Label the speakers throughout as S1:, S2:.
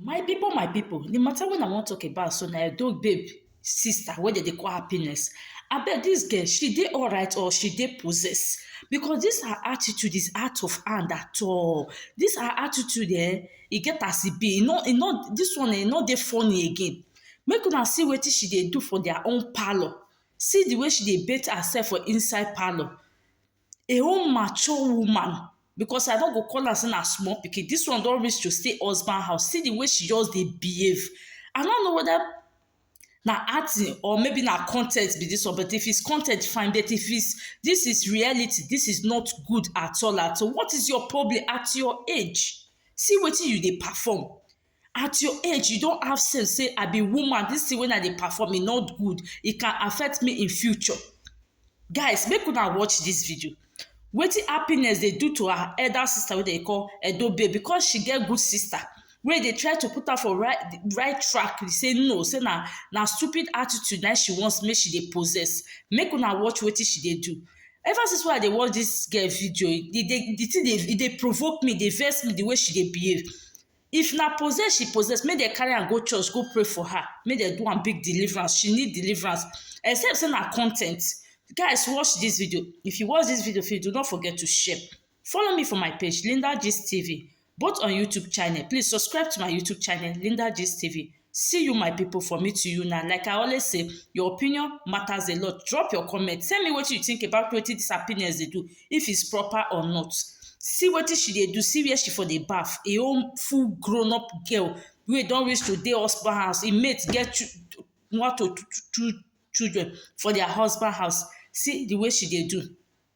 S1: My people, my people, the matter when I want to talk about so na Edo babe sister wey dem dey call happiness. Abeg this girl, she dey alright or she dey possessed? Because this her attitude is out of hand at all. This her attitude eh, e get as e be, e no e no this one eh, e no dey funny again. Make una see wetin she dey do for their own parlour. See the way she dey bath herself for inside parlour. a whole mature woman because I no go call am say na small pikin this one don reach to stay husband house see the way she just dey behave I no know whether na acting or maybe na con ten t be this one but if it's con ten t fine but if it's this is reality this is not good at all at all what is your problem at your age see wetin you dey perform at your age you don have sense say i be woman this thing wey i dey perform e no good e can affect me in future guys make una watch this video wetin happiness dey do to her elder sister wey dem call edo babe because she get good sister wey dey try to put her for right right track dey say no say na na stupid attitude na she wants make she dey possess make una watch wetin she dey do ever since wey i dey watch this girl video the the thing dey e dey provoke me dey vex me the way she dey behave If na possess she possess, make dem carry am go church go pray for her, make dem do am big deliverance, she need deliverance except sey na con ten t. Guys watch dis video, if you watch dis video finish do not forget to share, follow me for my page Linda Gist TV both on YouTube channel, please subscribe to my YouTube channel Linda Gist TV. See you my people for me to you now like I always say your opinion matters a lot drop your comment tell me what you think about what this happiness they do if it's proper or not see what she they do see where she for the bath a own full grown up girl We don't reach to dey husband house He mate get one to two children for their husband house see the way she they do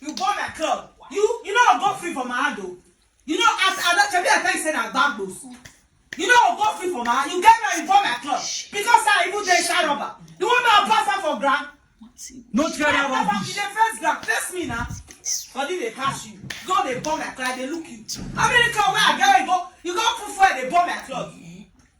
S1: You go my club. You you no go free for my hand o. You know as I don shebi I tell you say na gbagbo. You no go free for my hand. You get me you go my club. Because I even dey inside rubber. You want me to pass am for ground? No try that Pass am, rubbish. You dey face ground. Face me na. Body dey catch you. Go dey burn my cloth. I dey look you. How many cloth wey I get wey you go you go put fuel dey burn my cloth?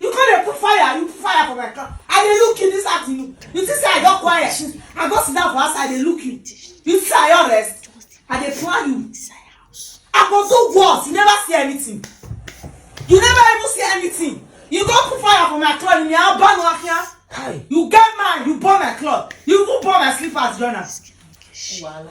S1: You come dey put fire, you put fire for my car. I dey look you this afternoon. You think say I don quiet since I go sit down for outside dey look you. You think say I don rest? I dey plan you. I go do worse. You never see anything. You never even see anything. You go put fire for my cloth. Me I burn one here. Kai. You get man, you burn my cloth. You even burn my slippers, join am. Wahala.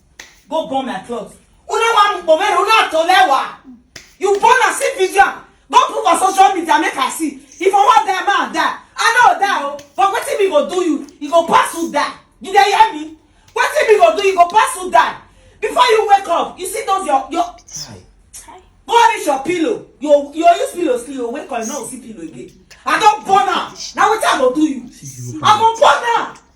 S1: go burn my cloth una wan mukpo mere una to lewa you born am see video am go put for social media make i see if i wan die man die i no die o but wetin me go do you e go pass you die you dey hear me wetin me go do you go pass you die before you wake up you see those your your go reach your pillow you you use pillow sleep you wake up you no go see pillow again i don burn am na wetin i go do you i go burn am.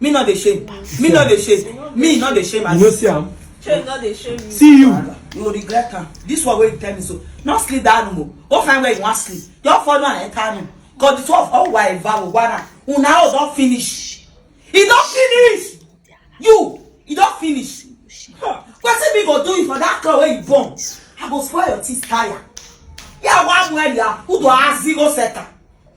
S1: Me not the shame. Me not the shame. Me not the shame. You know see am. Shame not the shame. See you. You will regret am. This one wey you tell me so. No sleep that room o. Go find where you wan sleep. Your phone na enter room. Cause the two of all wa eva o wa na. Una house don finish. E don finish. You. E don finish. Huh. Wetin me go do you for that car wey you born? I go spoil your teeth tire. Yeah, one where you are. Who do I zero setter?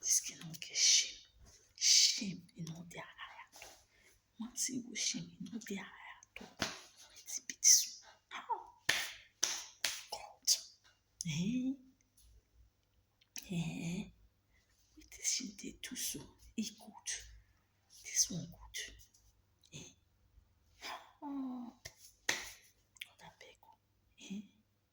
S1: This girl no get shame. Shame e no dey her eye at all. One single shame e no dey her eye at all. Wetin be this one? Ah! God. Eh? Eh? Wetin she dey do so? E good. This one good. Eh? Ah! God abeg o. Eh?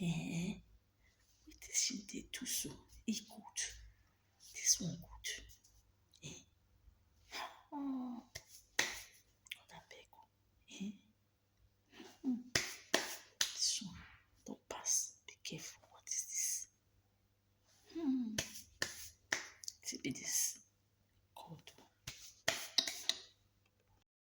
S1: Eh, wetin she dey do so? E good. This one good. Eh, oh, God abeg o. Eh, hmm, this one don pass. Be careful. What is this? Hmm, wetin be this? God o.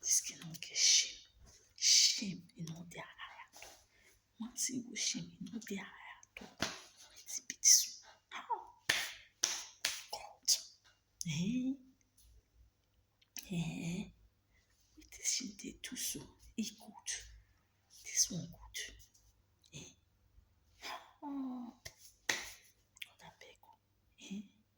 S1: This girl no get shame. Shame e no dey her eye at all. One single shame e no dey her eye at all. Wetin be this one? How? God. Eh? Eh? Wetin she dey do so? E good. This one good. Eh? How? God abeg o. Eh?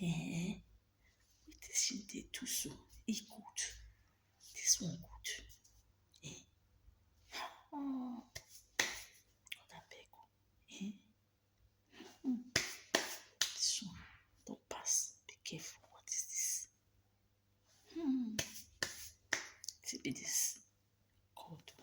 S1: Ehen, wetin she dey do so? E good, dis one good. Ehen, um God abeg o, ehen, um dis one don pass, be careful, what is dis? um wetin be dis? God o.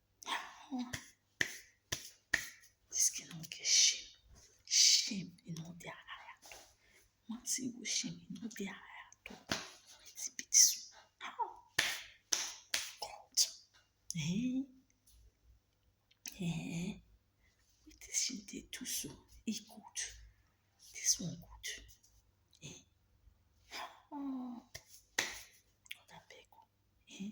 S1: This girl no get shame. Shame e no dey her eye at all. One single shame e no dey her eye at all. Wetin be this one? How? God. Eh? Eh? Wetin she dey do so? E good. This one good. Eh? How? God abeg o. Eh?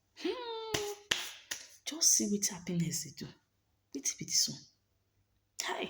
S1: Hmm, just see wetin happiness dey do. Wetin be dis one? Kai!